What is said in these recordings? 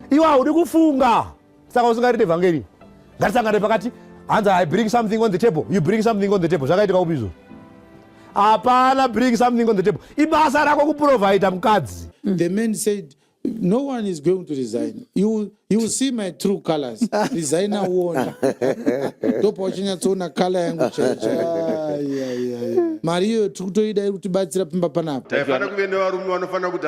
iwe haudi kufunga saka usingarite vhangeri ngatisangane pakati hanzi i bring something on the table you bring something on the table zvakaitika upi izvo hapana bring something on the table ibasa rako kuprovaida mukadzi the man said no one is going to resign you, you see my true colors resign awona ndopa uchinyatsoona kala yangu chaichai mari iyoyo tiri kutoida iri kutibatsira pimba panapa taifanira kuve nevarume vanofanira kuti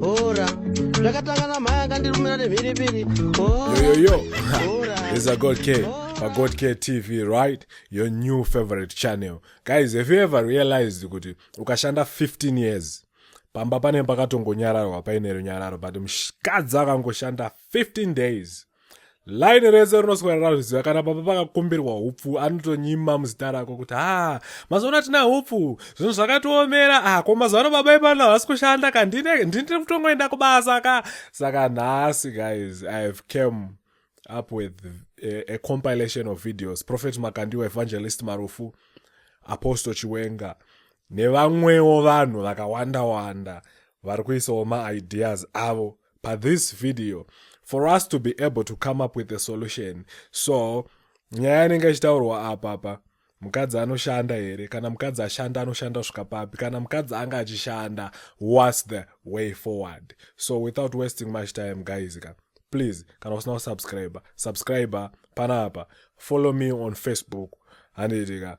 Hora. Zvakatanga na mhaya akandirumira nemhiripiri. Hora. Yo yo yo. Hora. There's a God K. Pa God K TV, right? Your new favorite channel. Guys, have you ever realized kuti ukashanda 15 years pamba pane pakatongonyararwa paine runyararo but mukadzi akangoshanda 15 days laini rese rinoswera razviziva kana baba vakakumbirwa upfu anotonyima muzita rako kuti ha mazuva ano atina upfu zvinhu zvakatiomera a ah, ko mazuva ano baba ipano havasi kushanda ka ndine ndiri kutongoenda kubasa ka saka nhasi guys i have came up with a, a compilation of videos prophet makandiwa evangelist marufu apostle chiwenga nevamwewo vanhu vakawanda wanda vari kuisawo maideas avo pa this video for us to be able to come up with a solution so nyaya inenge ichitaurwa apapa mukadzi anoshanda here kana mukadzi ashanda anoshanda svika papi kana mukadzi anga achishanda whats the way forward so without wasting much time guys ka please kana usina kusubscribe subscribe panapa follow me on facebook handiitika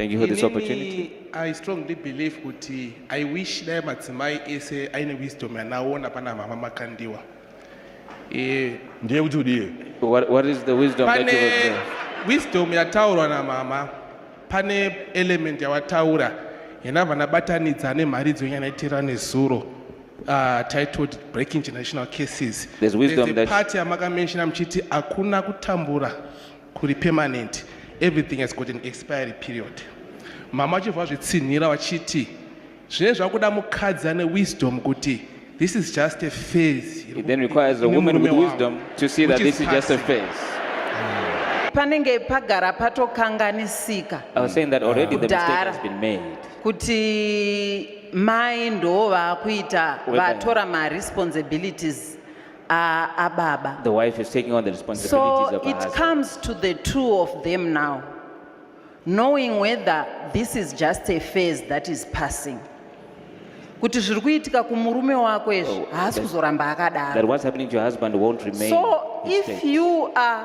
Thank you for this opportunity. I strongly believe kuti I wish dai madzimai ese aine wisdom yanaona pana mama Makandiwa. Eh, ndiye kuti udii? What, what is the wisdom pane that you observe? Wisdom yataurwa na mama pane element yawataura yena vanabatanidza nemharidzo yanyanaitira nezuro uh, titled breaking generational cases. There's wisdom There's a that part yamakamenshina muchiti hakuna kutambura kuri permanent everything has got an expiry period mama vachibva vazvitsinhira vachiti zvine zvakuda mukadzi ane wisdom kuti this is just a phase it then requires a woman with wisdom to see that this is just a phase panenge pagara patokanganisika i was saying that already the mistake has been made kuti mai ndo vaakuita vatora maresponsibilities Aa baba. The wife is taking on the responsibilities so of her husband. So it comes to the two of them now. Knowing whether this is just a phase that is passing. kuti zviri kuitika kumurume wako izvi oh, haasi kuzoramba akadaro so if you are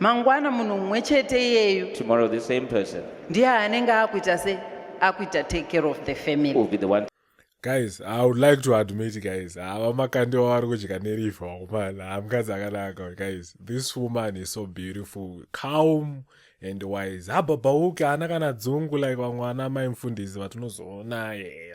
mangwana munhu mumwe chete iyeyu Tomorrow, the same person ndiye anenge akuita se akuita take care of the family will be the one guys i would like to admit guys hava makandi wavari kudya nerifa wakomana hamukadzi akanaka guys this woman is so beautiful calm and wise habhabhauke haana kana dzungu like vamwe ana mai mfundisi vatinozoona yeye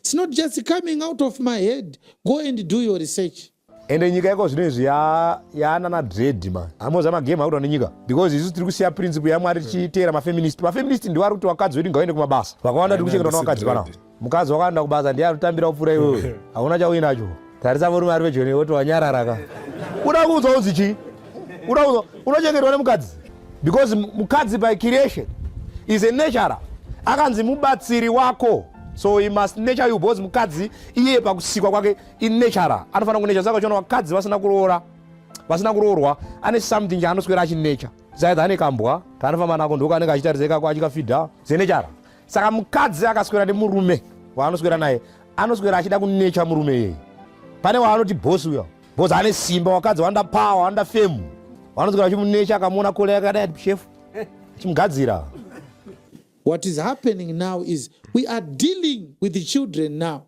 It's not just coming out of my head. Go and do your research. ende nyika yako zvino izvi yaanana dread ma amoza magame akuita nenyika because isu tiri kusiya principle yamwari tichiteera mafeminist mafeminist ndiwo ari kuti vakadzi vedu ngaende kumabasa vakawanda tiri kuchengeta na vakadzi panavo mukadzi wakaenda kubasa ndiye anotambira kupfuura iwewe hauna chauinacho Tarisa murume ari pedyo newe woti wanyarara ka. Unoda kuudzwa uzi chii? Unoda kuudzwa unochengetwa nemukadzi because mukadzi by creation is a natural akanzi mubatsiri wako so he must nature you because mukadzi iye pakusikwa kwake inatural anofanira kunature saka uchiona vakadzi vasina kuroora vasina kuroorwa ane something chaanoswera achinecha zaidha ane kambwa kaanofamba nako ndoko anenge achitariseka ko achikafidha zenechara saka mukadzi akaswera nemurume waanoswera naye anoswera achida kunecha murume iyeye pane waanoti bosi uya bosi ane simba wakadzi wanda pawa wanda femu wanoswera achimunecha akamuona kole yakadai ati shefu achimugadzira what is happening now is we are dealing with the children now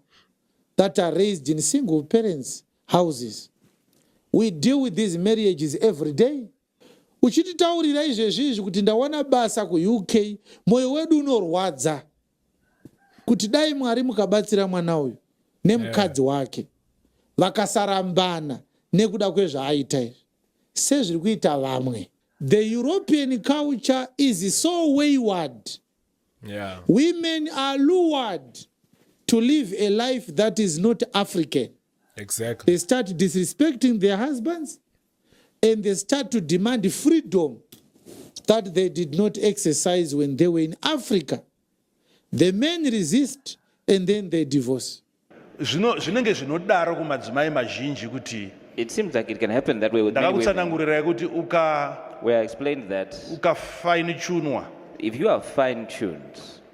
that are raised in single parents houses we deal with these marriages every day uchititaurira izvezvi izvi kuti ndawana basa kuuk mwoyo wedu unorwadza kuti dai mwari mukabatsira mwana uyu nemukadzi eh. wake vakasarambana nekuda kwezvaaita izvi sezviri kuita vamwe the european culture is so wayward yeah. women are lured to live a life that is not african exactly. they start disrespecting their husbands and they start to demand freedom that they did not exercise when they were in Africa. The men resist and then they divorce. Zvino zvinenge zvinodaro kumadzimai mazhinji kuti It seems like it can happen that way with many women. Ndakakutsanangurirai kuti uka We explained that ukafainichunwa if you are fine tuned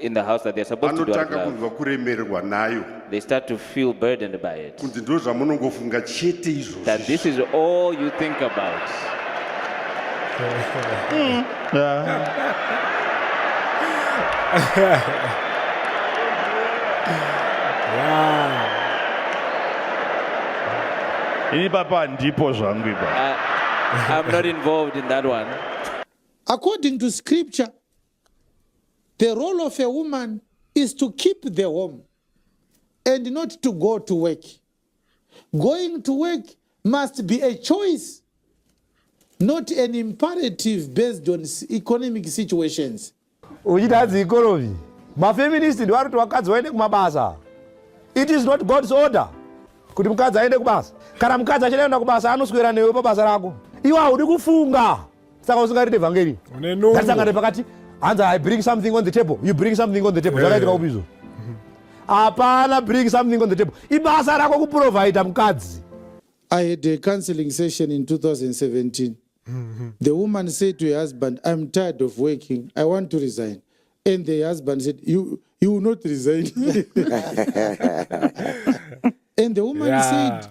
in the house that they're supposed to do out of vanotanga love, kunzwa kuremerwa nayo they start to feel burdened by it. kunzi ndo zvamunongofunga chete izvozvi That this is all you think about. ini papa handipo zvangu ipa I, I'm not involved in that one. According to scripture, The role of a woman is to keep the home and not to go to work. Going to work must be a choice, not an imperative based on economic situations. Uchitadzi ikorovi. Mafeminist ndiwo anoti vakadzi vaende kumabasa. It is not God's order kuti mukadzi aende kubasa. Kana mukadzi achida kuenda kubasa anoswera newe pabasa rako. Iwe haudi kufunga. saka usingarite vhangeri ndasangana pakati hanzi i bring something on the table you bring something on the table zvakaitika eh. upi izvo hapana bring something on the table ibasa rako kuprovhaida mukadzi i had a counseling session in 2017 the woman said to her husband i'm tired of working i want to resign and the husband said you, you will not resign and the woman yeah. said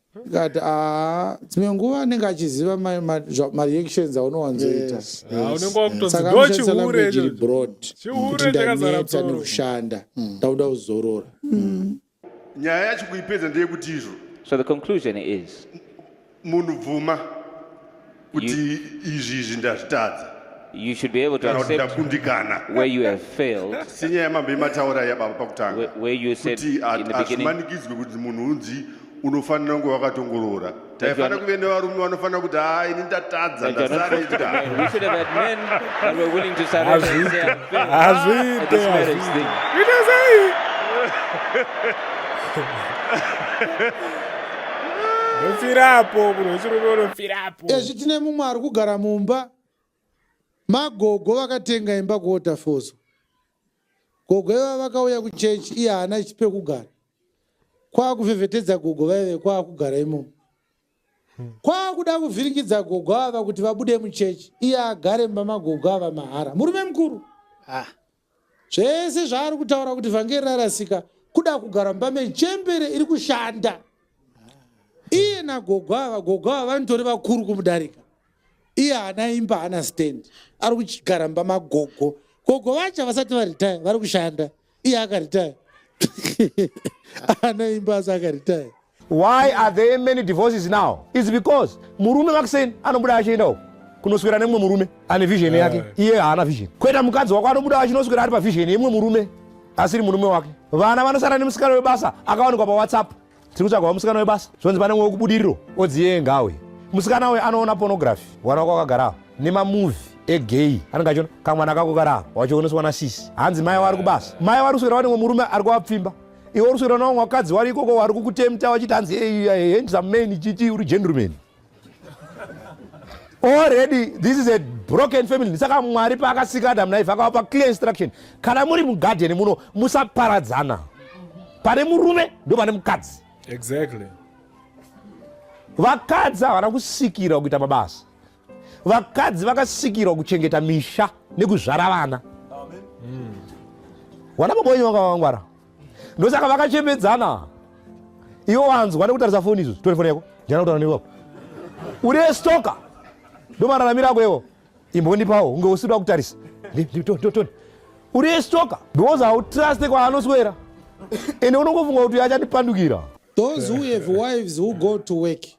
Ndikati aa dzimwe nguva anenge achiziva mareactions aunowanzoita saka anoshandisa language iri broad kuti ndaneta nekushanda mm. ndakuda kuzorora mm. nyaya yacho kuipedza ndeyekuti izvo so the conclusion is munhu bvuma kuti izvi izvi ndazvitadza you should be able to accept where you have failed. Where, where you said in the beginning. unofanira kunge wakatongorora taifanira kuve nevarume vanofanira kuti haa ini ndatadza ndasaraitazviite ndofirapo munhu wechirume unofirapo ezvi tine mumwe ari kugara mumba magogo vakatenga imba kuotafoso gogo iva vakauya kuchechi iye haana pekugara kwaakuvhevhetedza gogo vaive kwaakugara imomo kwaakuda kuvhiringidza gogo ava kuti vabude muchechi iye agare mumba magogo ava mahara murume mukuru ah. Zvese zvaari kutaura kuti vhangeri rarasika kuda kugara mumba mechembere iri kushanda. Iye nagogo ava, gogo ava vanitori vakuru kumudarika. Iye haana imba, haana stand. Ari kugara mumba magogo. Gogo vacho vasati varitaya, vari kushanda. Iye akaritaya. Haana imba asi akaritaya. Why are there many divorces now? It's because murume vakuseni anobuda achienda uko kunoswera nemumwe murume ane vision yake eh. iye haana vision kweta mukadzi wako anobuda achinoswera ari pavision yemumwe murume asiri murume wake vana vanosara nemusikana webasa akawanikwa pawhatsapp tiri kutsvaga wamusikana webasa zvonzi pane mwe wekubudiriro odziye ngawe musikana uyu anoona pornography wana wako akagarawo nemamuvi egay anenge achiona kamwana kako karawo wachioneswa nasisi hanzi mai wari kubasa mai wari kuswera wanemwe murume ari kuwapfimba iwe uri swera navamwe vakadzi vari ikoko vari kukutemta vachiti hanzi handsome man ichichi uri gentleman already this is a broken family saka mwari paakasika adam naife akavapa clear instruction kana muri mugarden muno musaparadzana pane murume ndo pane mukadzi exactly vakadzi havana kusikira kuita mabasa vakadzi vakasikirwa kuchengeta misha nekuzvara vana wana baba wenyu vanga vakangwara ndosaka vakachembedzana iwo wanzwa nekutarisa foni izvo tore foni yako jana kutaura neiwapo uri stoka ndomararamiro ako iwo imbondipawo unge usiri wakutarisa uri stoka because hautruste kwaanoswera ende unongofunga kuti achandipandukira those who have wives who go to work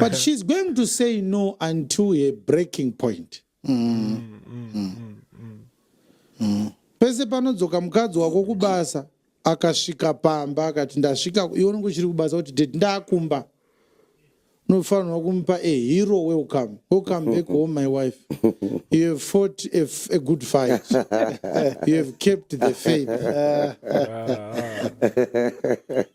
but she's going to say no until her breaking point mm. Mm. Mm. pese panodzoka mukadzi wako kubasa akasvika pamba akati ndasvika iwe unenge uchiri kubasa kuti ded ndakumba unofanirwa kumupa a hero welcome welcome back home my wife you have fought a, a good fight you have kept the faith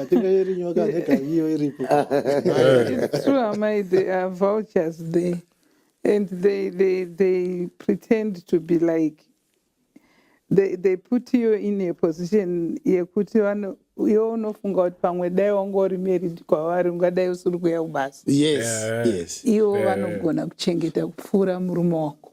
atinga iri nyoka neka iyo iripo It's true, Amai, there are vultures there. And they, they, they pretend to be like, they, they put you in a position yekuti vano- iwe unofunga kuti pamwe dai wanga uri married kwavari ungadai usiri kuuya kubasa. yes Eh. yes ivo Eh. vanogona kuchengeta kupfuura murume wako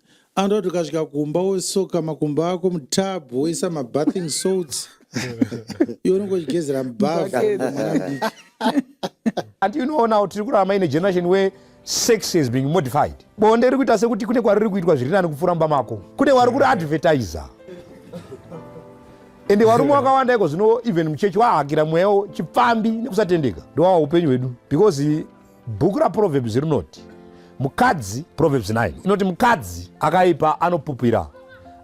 anoda kuti ukasvika kumba wosoka makumbo ako mutub woisa mabathing salts iwe unenge uchigezera mubhavamwanamdiki and you know now tiri kurarama ine generation where sex has been modified bonde riri kuita sekuti kune kwariri kuitwa zviri nani kupfuura mumba mako kune wari kuri advertiser ende varume vakawanda iko zvino even muchechi wahakira mweya chipfambi nekusatendeka ndowawa upenyu hwedu because Bhuku raProverbs rinoti mukadzi, Proverbs 9 inoti mukadzi akaipa anopupira,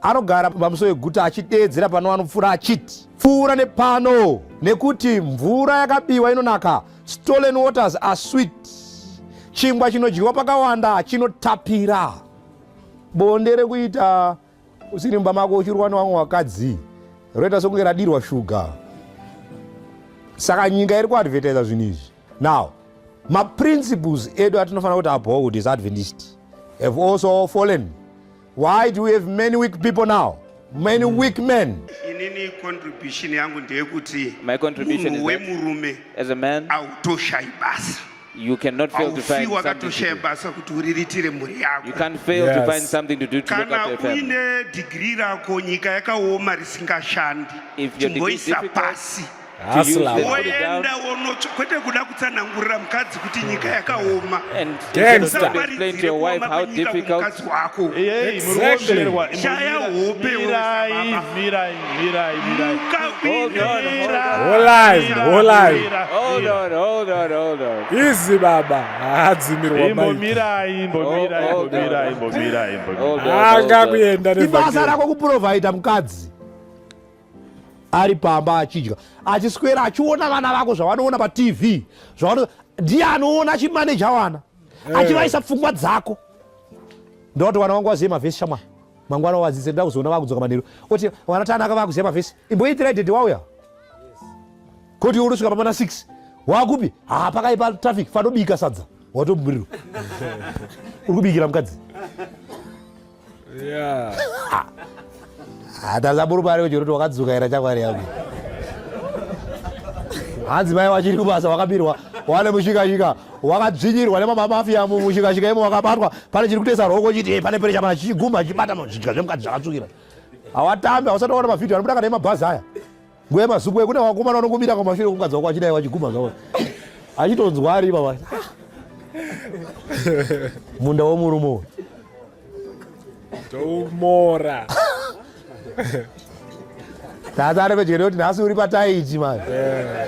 anogara pamuso weguta achideedzera pano anopfuura achiti pfuura nepano, nekuti mvura yakabiwa inonaka, stolen waters are sweet, chingwa chinodyiwa pakawanda chinotapira. Bonde rekuita usiri mumba mako uchirwa newamwe wakadzi roita sokunge radirwa shuga saka nyika iri kuadvertisa zvinhu izvi now maprinciples edu atinofanira kuti uphold is adventist have also fallen why do we have many weak people now many mm. weak men inini contribution yangu ndeyekuti munhu wemurume autoshayi basa You cannot fail to find something to do. basa kuti uriritire mhuri yako. You can't fail yes. to find something to do to look after your family. Kana uine degree rako nyika yakaoma risingashandi. If your degree is difficult, woenda wonotsva kwete kuda kutsanangurira mukadzi kuti nyika yakaoma mukadzi wako shaya hope Mirai, mirai. Holai, holai. Hold on, hold on, hold on. Izi baba haadzimirwa maiki. Imbomirai, imbomirai, Oh, oh, imbomirai, oh. imbomirai, imbomirai. Hold on, hold Anga on. kuenda ibasa nevhakeri. rako kuprovaida mukadzi ari pamba achidya achiswera achiona vana vako zvavanoona patv zvavano ndiye anoona achimaneja wana achivaisa pfungwa dzako ndoti wana wangu waziye mavhesi shamwari mangwana wadzidze ndoda kuzoona vakudzoka manheru oti vana tanaka vakuziva mavhesi imboitirai dede wauya koti unosvika pamana 6 wakupi haa pakaipa traffic fanobika sadza watoburirwa uri kubikira mukadzi hatazamurumari kuti unoti wakadzuka era chakwari yangu hanzi mai wachiri kubasa wakabirwa wane mushikashika wakadzvinyirwa nemamamafiya mushikashika imo wakabatwa pane chiri kutesa roko chiti eh, pane perecha mana chichiguma chibata zvidya zvemukati zvakatsvukira hawatambi hausataona mavhidhio anobudaka nemabhazi aya nguva yemazupwe kune wakomana unongomira kwamashure kukadza wako achidai wachiguma zvawo achitonzwa ari ipapa munda womurume uyu Tomora. Tata ari pedyo nekuti nhasi uri pataiti mani.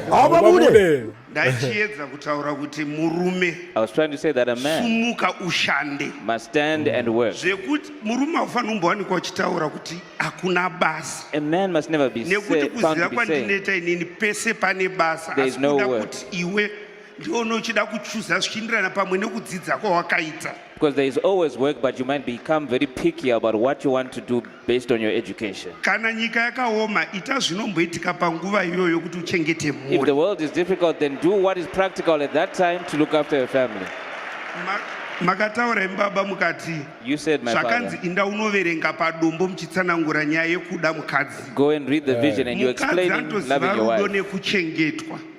Haupa bude. Ndaichiedza kutaura kuti murume. I was trying to say that a man. Sumuka ushande. Must stand and work. Zvekuti murume haufanira kumbowanikwa uchitaura kuti hakuna basa. A man must never be said. Nekuti kuziva kwandineta inini pese pane basa. There is no work. Asi kuda kuti iwe ndione uchida kuchuza zvichienderana pamwe nekudzidza kwawakaita because there is always work but you might become very picky about what you want to do based on your education kana nyika yakaoma ita zvinomboitika panguva iyoyo kuti uchengete if the world is difficult then do what is practical at that time to look after your family makataura imi baba mukati zvakanzi inda unoverenga padombo muchitsanangura nyaya yekuda mukadzi mukadzi anotoziva rudo nekuchengetwa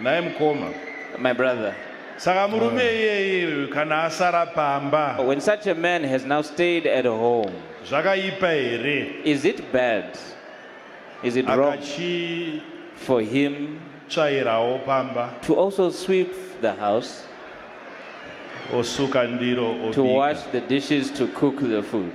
Nhai mukoma. My brother. Saka murume ah. iyeye kana asara pamba. When such a man has now stayed at home. Zvakaipa here? Is it bad? Is it wrong? Akachi for him tsvairawo pamba. To also sweep the house. Osuka ndiro obika. To wash the dishes to cook the food.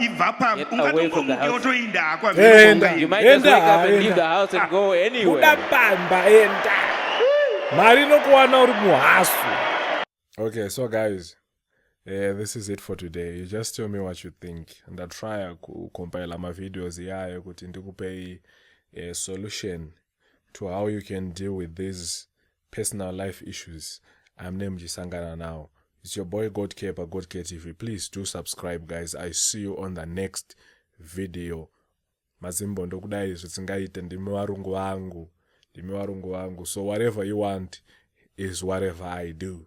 ibva pamwe ungatomuke wotoinda hako amuda pamba enda mari inokuwana uri muhasu okay so guys Uh, this is it for today you just tell me what you think ndatrya kucompila mavideos iyayo kuti ndikupei uh, solution to how you can deal with these personal life issues amune muchisangana nawo it's your boy god care pagod care tv please do subscribe guys i see you on the next video mazimbo ndokudai zvisingaite ndimi varungu vangu ndimi varungu vangu so whatever you want is whatever i do